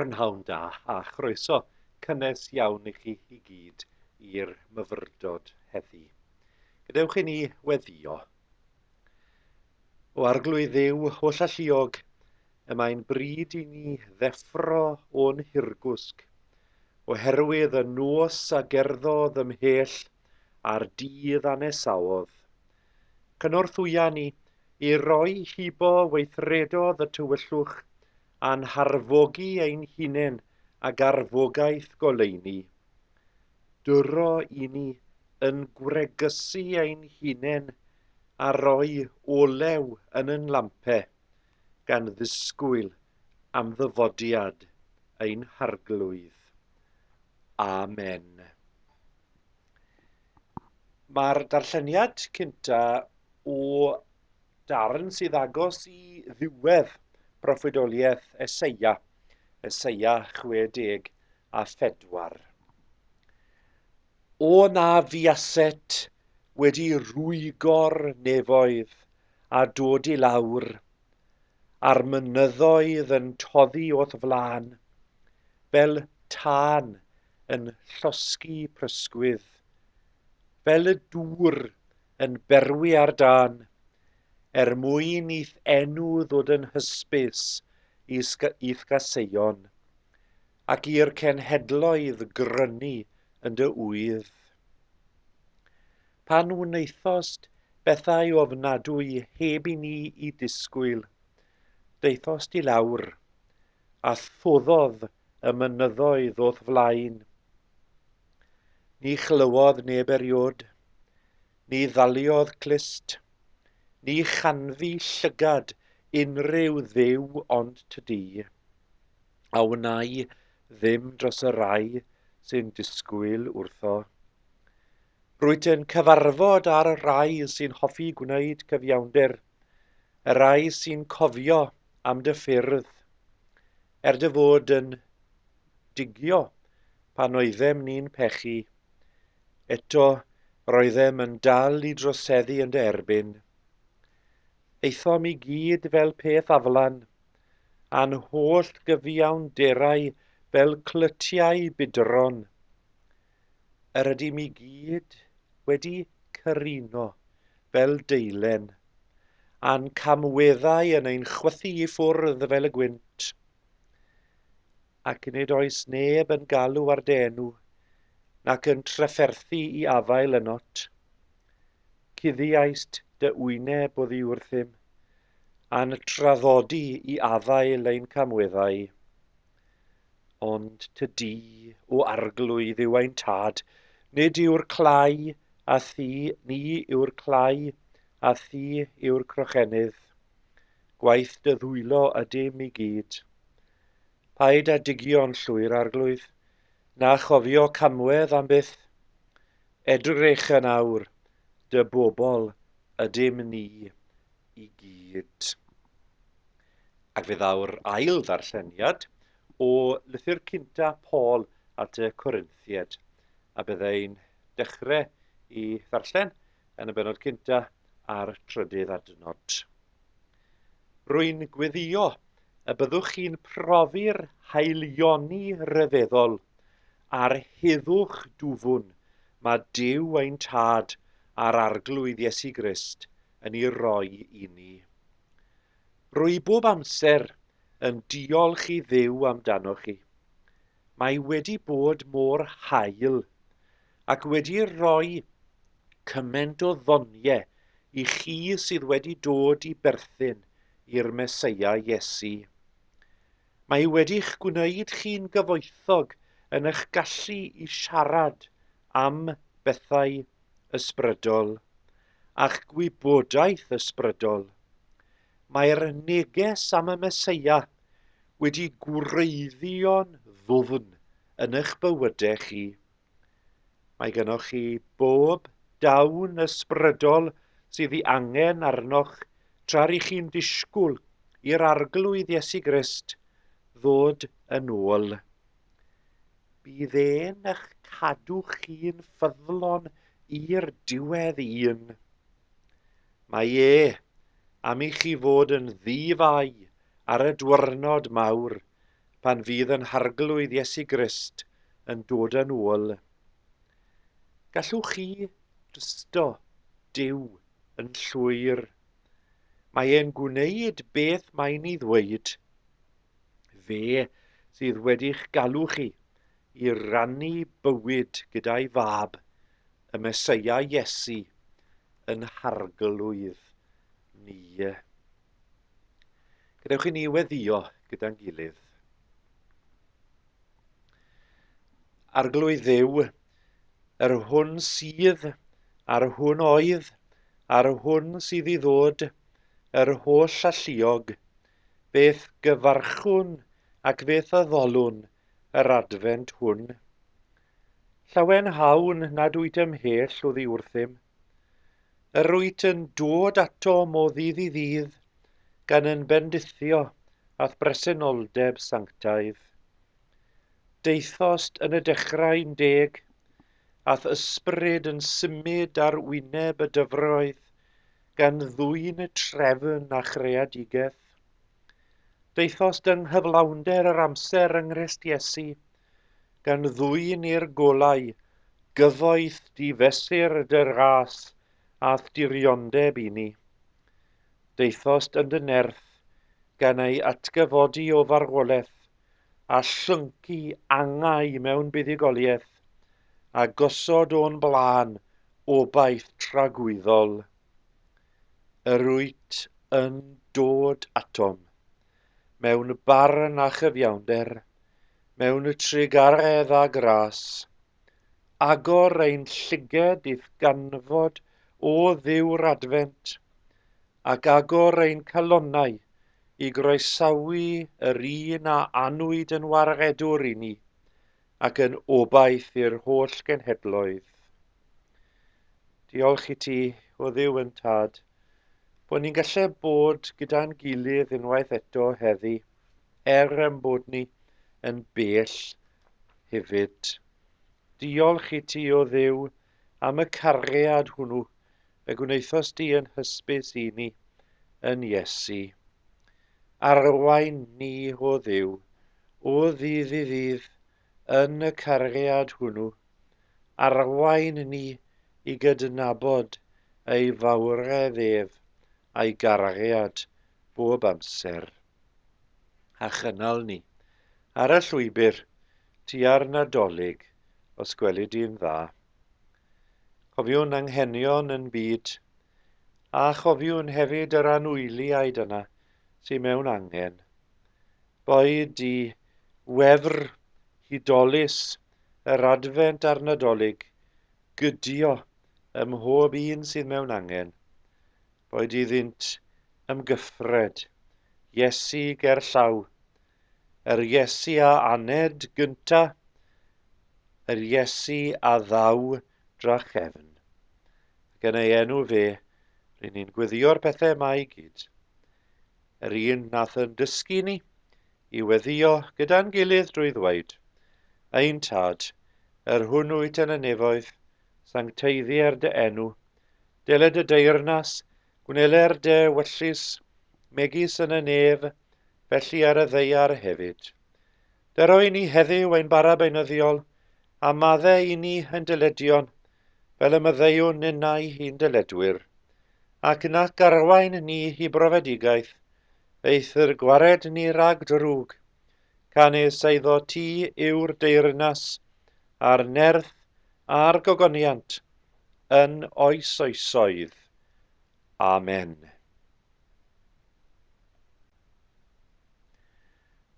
Prynhawn da a chroeso cynnes iawn i chi i gyd i'r myfyrdod heddi. Gadewch i ni weddio. O arglwydd yw holl alluog, y mae'n bryd i ni ddeffro o'n hirgwsg, oherwydd y nos a gerddodd ymhell a'r dydd a nesawodd. Cynorthwya ni i roi hibo weithredodd y tywyllwch a'n harfogi ein hunain ag arfogaeth goleuni. Duro i ni yn gwregusu ein hunain a roi olew yn yn lampe, gan ddisgwyl am ddyfodiad ein Harglwydd. Amen. Mae'r darlleniad cynta o darn sydd agos i ddiwedd proffwydoliaeth Eseia, Eseia 64. O na fiaset wedi rwygo'r nefoedd a dod i lawr, a'r mynyddoedd yn toddi o'th flan, fel tân yn llosgi prysgwydd, fel y dŵr yn berwi ar dan, er mwyn i'th enw ddod yn hysbys i'th gaseion, ac i'r cenhedloedd grynu yn dy ŵydd. Pan wnaethost bethau ofnadwy heb i ni i disgwyl, daethost i lawr, a thuddodd y mynyddoedd o'th flaen. Ni chlywodd neb eriod, ni ddaliodd clust, ni chanfu llygad unrhyw dduw ond tydi, a wnai ddim dros y rai sy'n disgwyl wrtho. Rwyt yn cyfarfod ar y rai sy'n hoffi gwneud cyfiawnder, Y rhai sy'n cofio am dy ffyrdd, er dy fod yn digio pan oeddem ni'n pechu, eto roeddem yn dal i droseddu yn dy erbyn. Aethom i gyd fel peth aflan, a'n holl gyfiawnderau fel clytiau budron. yr ydym i gyd wedi cyruno fel deilen, a'n camweddau yn ein chwythu i ffwrdd fel y gwynt. Ac nid oes neb yn galw ar denw, nac yn trafferthu i afael ynot. Cuddiaist dy wyneb oddi wrthym, a'n traddodi i afael ein camweddau. Ond tŷ du o arglwydd yw ein tad, nid yw'r clai a thu, ni yw'r clai a thu yw'r crochennydd. Gwaith dy ddwylo ydym i gyd. Paid â digio'n llwyr, arglwydd, na chofio camwedd am byth. Edrych yn awr, dy bobl ydym ni i gyd. Ac fe ddaw'r ail ddarlleniad o lythyr cynta Paul at y Corinthiaid, a bydda i'n dechrau i ddarllen yn y bennod cynta a'r trydydd adnod. Rwy'n gweddio y byddwch chi'n profi'r haelioni ryfeddol a'r heddwch dwfwn mae Duw ein Tad a'r Arglwydd Iesu Grist yn ei roi i ni. Rwy bob amser yn diolch i Dduw amdanoch chi. Mae wedi bod mor hael ac wedi rhoi cyment o ddonie i chi sydd wedi dod i berthyn i'r Meseia Iesu. Mae wedi'ch gwneud chi'n gyfoethog yn eich gallu i siarad am bethau ysbrydol a'ch gwybodaeth ysbrydol. Mae'r neges am y Meseia wedi gwreiddio'n ddwfn yn eich bywydau chi. Mae gennych chi bob dawn ysbrydol sydd ei angen arnoch tra rŷch chi'n disgwyl i'r Arglwydd Iesu Grist ddod yn ôl. Bydd e'n eich cadw chi'n ffyddlon i'r diwedd un. Mae e am i chi fod yn ddi-fai ar y diwrnod mawr pan fydd yn Harglwydd Iesu Grist yn dod yn ôl. Gallwch chi drysto Duw yn llwyr. Mae e'n gwneud beth mae'n ei ddweud. Fe sydd wedi'ch galw chi i rannu bywyd gyda'i fab, y Mesoea Iesu, yn harglwydd ni. Gadewch i ni weddio gyda'n gilydd. Arglwydd ddew, yr hwn sydd, a'r hwn oedd, a'r hwn sydd i ddod, yr holl alluog, beth gyfarchwn ac beth addolwn yr adfent hwn. Llawen hawn nad wyt ymhell o ddi wrthym, Yr wyt yn dod atom o ddydd i ddydd, gan yn bendithio a'th bresenoldeb sanctaidd. Deuthost yn y dechrau yn deg, a'th ysbryd yn symud ar wyneb y dyfroedd, gan ddwyn y trefn a chreadigaeth. Deuthost yng nghyflawnder yr amser yng Nghrist Iesu, gan ddwyn i'r golau gyfoeth di-fesur dy ras a'th diriondeb i ni. Daethost yn dy nerth, gan ei atgyfodi o farwoleth, a llyncu angau mewn buddugoliaeth, a gosod o'n blaen obaith tragwyddol. Yr wyt yn dod atom, mewn barn a chyfiawnder, mewn trugaredd a gras. Agor ein llyged i'th ganfod, O Dduw'r Adfent, ac agor ein calonnau i groesawu yr un a anwyd yn waredwr i ni, ac yn obaith i'r holl genhedloedd. Diolch i ti, o ddiw yn tad, bod ni'n gallu bod gyda'n gilydd unwaith eto heddi, er yn bod ni yn bell hefyd. Diolch i ti, o ddiw, am y cariad hwnnw y gwnaethos di yn hysbys i ni yn Iesu. Arwain ni, o ddiw, o ddydd i ddydd, Yn y cariad hwnnw, arwain ni i gydnabod ei fawredd ef a'i gariad bob amser, a chynnal ni ar y llwybr tua'r Nadolig os gweli di'n dda. Cofiwn anghenion yn byd, a chofiwn hefyd yr anwyliaid yna sydd mewn angen, boed i wefr hudolus yr Adfent a'r Nadolig gydio ym mhob un sydd mewn angen, boed iddynt ymgyffred Iesu gerllaw, yr Iesu a aned gynta', yr Iesu a ddaw drachefn, ac yn ei enw fe, ry'n ni'n gweddïo'r pethau yma i gyd. Yr un nath yn dysgu ni i weddio gyda'n gilydd drwy ddweud, Ein Tad, yr hwn wyt yn y nefoedd, sancteiddier dy enw, dele dy deyrnas, gwneler dy wyllys, megis yn y nef, felly ar y ddeiar hefyd. Dero i ni heddiw ein bara beunyddiol, a madde i ni ein dyledion, fel y myddeiwn ninnau i'n dyledwyr, ac nac arwain ni i brofedigaeth, eithr gwared ni rag drwg, canys eiddo ti yw'r deyrnas, a'r nerth, a'r gogoniant, yn oes oesoedd. Amen.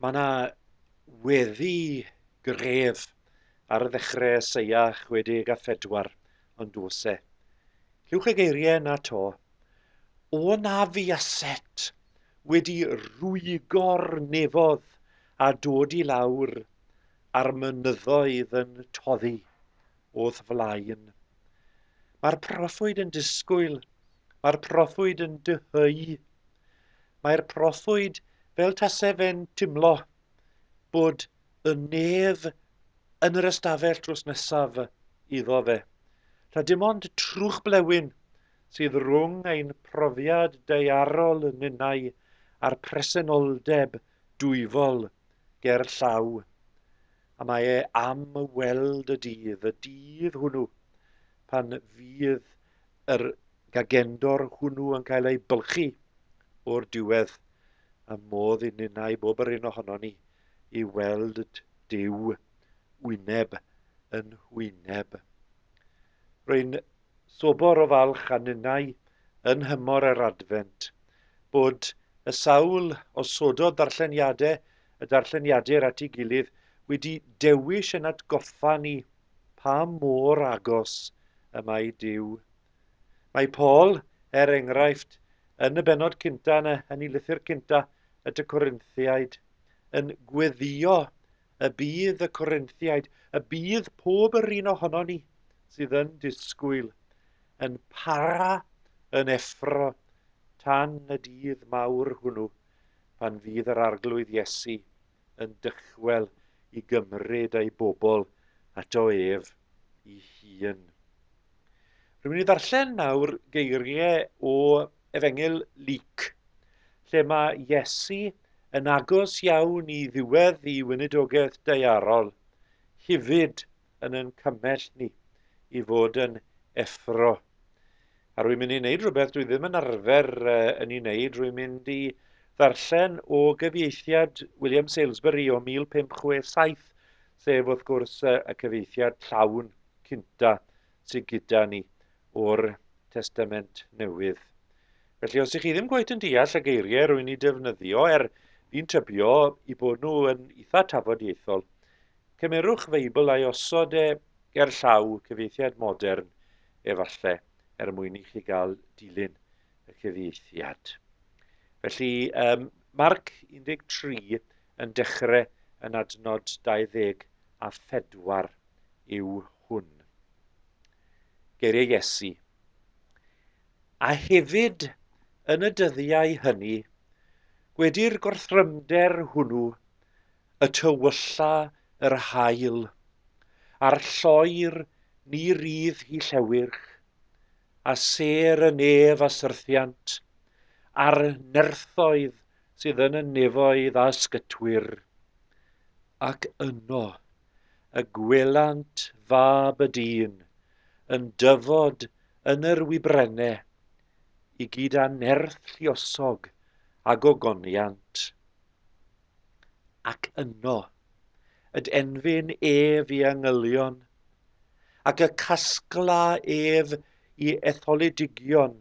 Mae yna weddi gref ar y ddechrau Eseia 64, ond dos e. Cewch y geiriau yna to. O na fi a set wedi rwygo'r nefodd a dod i lawr a'r mynyddoedd yn toddi. o'th flaen. Mae'r proffwyd yn disgwyl, mae'r proffwyd yn dyheu. Mae'r proffwyd fel tase fe'n timlo bod y nef yn yr ystafell drws nesaf iddo fe. Rha dim ond trwch blewyn sydd rhwng ein profiad daearol yn ninnau a'r presenoldeb dwyfol ger llaw. A mae e am weld y dydd, y dydd hwnnw, pan fydd yr gagendor hwnnw yn cael ei bylchu o'r diwedd, a modd i ninnau bob yr un ohono ni i weld Dyw wyneb yn hwyneb. Rwy'n Sobor o falch a ninnau yn nhymor yr Adfent, bod y sawl osododd ddarlleniadau y darlleniadur at ei gilydd wedi dewish yn atgoffa ni pa mor agos y mae Duw. Mae Paul, er enghraifft, yn y benod cynta yn y yn ei lythyr cynta at y Corinthiaid, yn gweddio Y bydd y Corinthiaid, y bydd pob yr un ohono ni sydd yn disgwyl, yn para, yn effro, tan y dydd mawr hwnnw, pan fydd yr Arglwydd Iesu yn dychwel i gymryd ei bobl ato ef i hun. Rwy'n i ddarllen nawr geiriau o Efengyl Luc, lle mae Iesu yn agos iawn i ddiwedd i weinidogaeth daearol, hefyd yn yn cymell ni i fod yn effro. A rwy'n mynd i wneud rhywbeth dwi ddim yn arfer yn ei wneud, rwy'n mynd i ddarllen o gyfieithiad William Salesbury o 1567, sef wrth gwrs y cyfieithiad llawn cynta sydd gyda ni o'r Testament Newydd. Felly, os ych chi ddim gwaith yn deall y geiriau rwy'n ei defnyddio, er fi'n tybio i bod nhw yn eitha tafodieithol, cymerwch Feibl a'i osod e ger llaw cyfieithiad modern, efallai, er mwyn i chi gael dilyn y cyfieithiad. Felly, um, Marc 13, yn dechrau yn adnod 24 yw hwn. Geiriau Iesu. A hefyd, yn y dyddiau hynny, gwedi'r gorthrymder hwnnw, y tywylla yr hael, a'r lloer ni rydd hi llewyrch, a ser y nef a syrthiant, a'r nerthoedd sydd yn y nefoedd a sgytwyr, ac yno y gwelant fab y dyn yn dyfod yn yr wibrenne i gyd â nerth lluosog a gogoniant. Ac yno yd enfyn ef i angylion, ac y casgla ef i etholidigion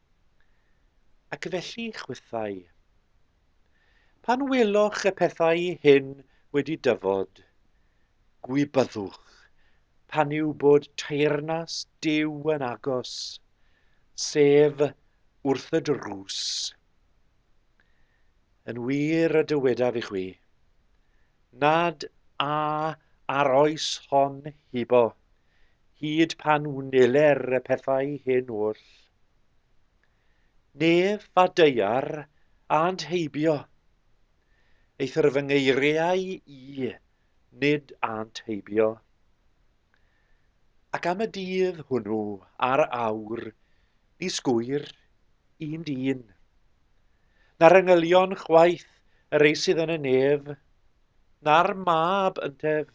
Ac felly chwythau. Pan weloch y pethau hyn wedi dyfod, gwybyddwch pan yw bod teyrnas Duw yn agos, sef wrth y drws. Yn wir y dywedaf i chwi, nad a ar oes hon hibo Hyd pan wneler y pethau hyn oll. Nef a deiar ânt heibio, eithr fy ngeiriau i nid ânt heibio. Ac am y dydd hwnnw a'r awr ni sgwyr un dyn, na'r engylion chwaith yr eisydd yn y nef, na'r mab yntef,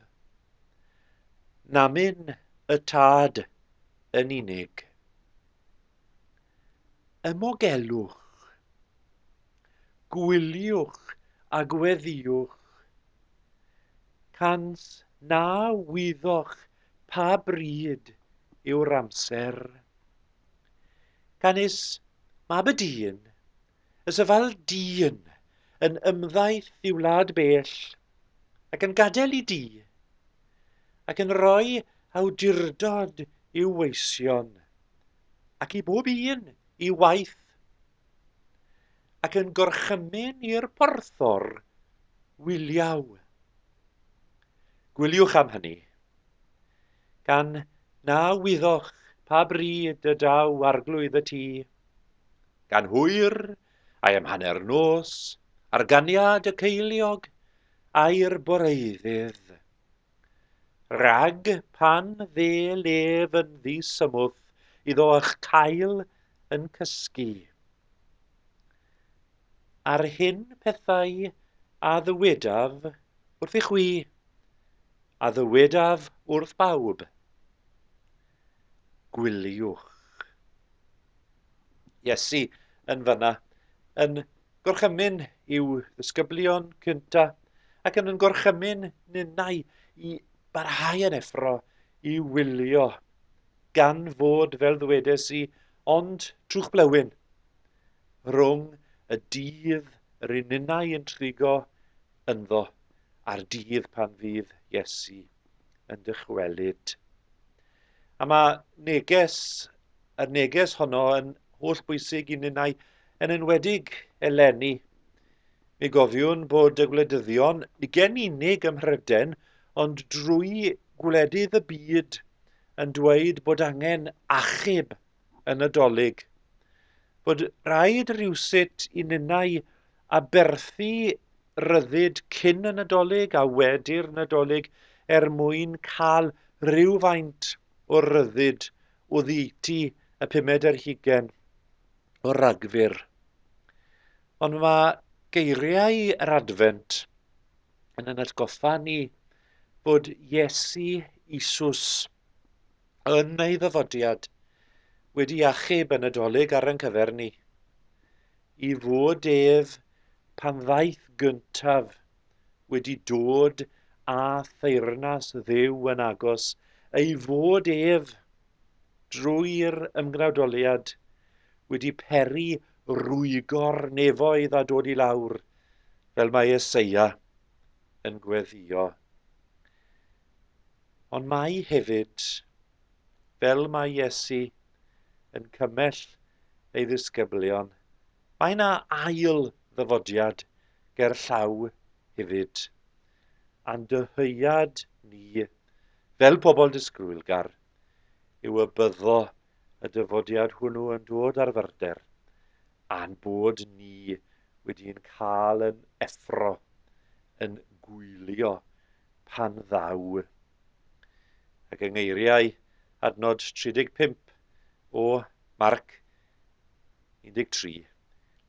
Namyn y tad yn unig. Ymogelwch. Gwyliwch a gweddiwch. Cant na wyddoch pa bryd yw'r amser. Canys Mab y Dyn Y Safal Dyn, yn ymddaeth i wlad bell, ac yn gadael i di, ac yn rhoi awdurdod i'w weision, ac i bob un i waith, ac yn gorchymyn i'r porthor wyliau. Gwyliwch am hynny, gan na wyddoch pa bryd y daw arglwydd y tŷ, Gan hwyr, I am hanner nos, ar ganiad y ceiliog, ai'r boreuddydd. Rhag pan dde lef yn ddisymwth iddo ych cael yn cysgu. A'r hyn pethau a ddywedaf wrth i chwi, a ddywedaf wrth bawb. Gwyliwch. Iesu yn fyna, yn gorchymyn i'w ddisgyblion cynta, ac yn yn gorchymyn ninnau i barhau yn effro i wylio, gan fod, fel ddwedes i, ond trwchblewyn rhwng y dydd rŷn ninnau yn trigo ynddo a'r dydd pan fydd Iesu yn dychwelyd. A mae neges, y neges honno yn holl bwysig i ninnau, yn enwedig eleni. Mi gofiwn bod y gwleidyddion, ni gen unig ym Mhryden, ond drwy gwledydd y byd, yn dweud bod angen achub yn y dolyg. Bod rhaid rhywsut i ninnau Aberthu rhyddid cyn y Nadolig a wedi'r Nadolig er mwyn cael rhywfaint o ryddid oddeutu y pumed ar hugain o Ragfyr. Ond mae geiriau yr Adfent yn yn atgoffa ni bod Iesu Isus yn ei ddyfodiad wedi achub y Nadolig ar ein cyfer ni. i fod ef pan ddaeth gyntaf, wedi dod â theyrnas Dduw yn agos, ei fod ef, drwy'r ymgnawdoliad, wedi peri rwygo'r nefoedd a dod i lawr, fel mae Eseia yn gweddio. Ond mae hefyd Fel mae Iesu yn cymell ei ddisgyblion, mae yna ail ddyfodiad gerllaw hefyd, a'n dyhead ni, fel pobl disgrwylgar, yw y byddo y dyfodiad hwnnw yn dod ar fyrder, a'n bod ni wedi'n cael yn effro, yn gwylio pan ddaw. Ac yng ngeiriau adnod 35 o Marc 13,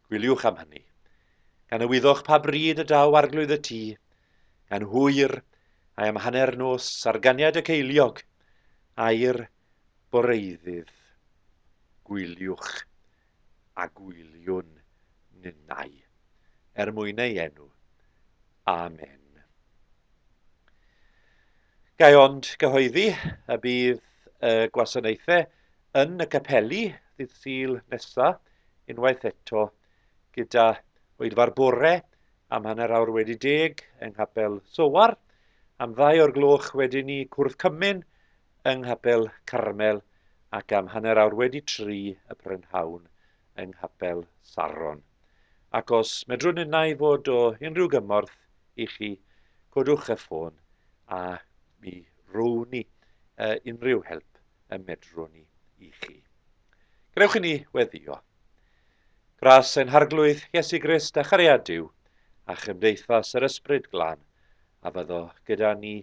gwyliwch am hynny, gan y wyddoch pa bryd y daw arglwydd y tŷ, gan hwyr, a'i am hanner nos ar ganiad y ceiliog, air boreiddydd. Gwyliwch a gwyliwn ninnau, er mwyn ei enw. Amen. Gai ond gyhoeddi y bydd y gwasanaethau yn y capeli ddydd Sul nesaf unwaith eto gyda oedfa'r bore am hanner awr wedi deg yng Nghapel Sowar, am ddau o'r gloch wedyn ni cwrdd cymun yng Nghapel Carmel ac am hanner awr wedi tri y prynhawn yng Nghapel Saron. Ac os medrwn innau fod o unrhyw gymorth i chi, codwch y ffôn a mi rown ni uh, unrhyw help y medrwn ni i chi. Gwnewch i ni weddio. Gras ein Harglwydd, Iesu Grist a chariad Duw, a chymdeithas yr Ysbryd Glân, a fyddo gyda ni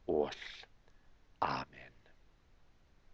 oll. Amen.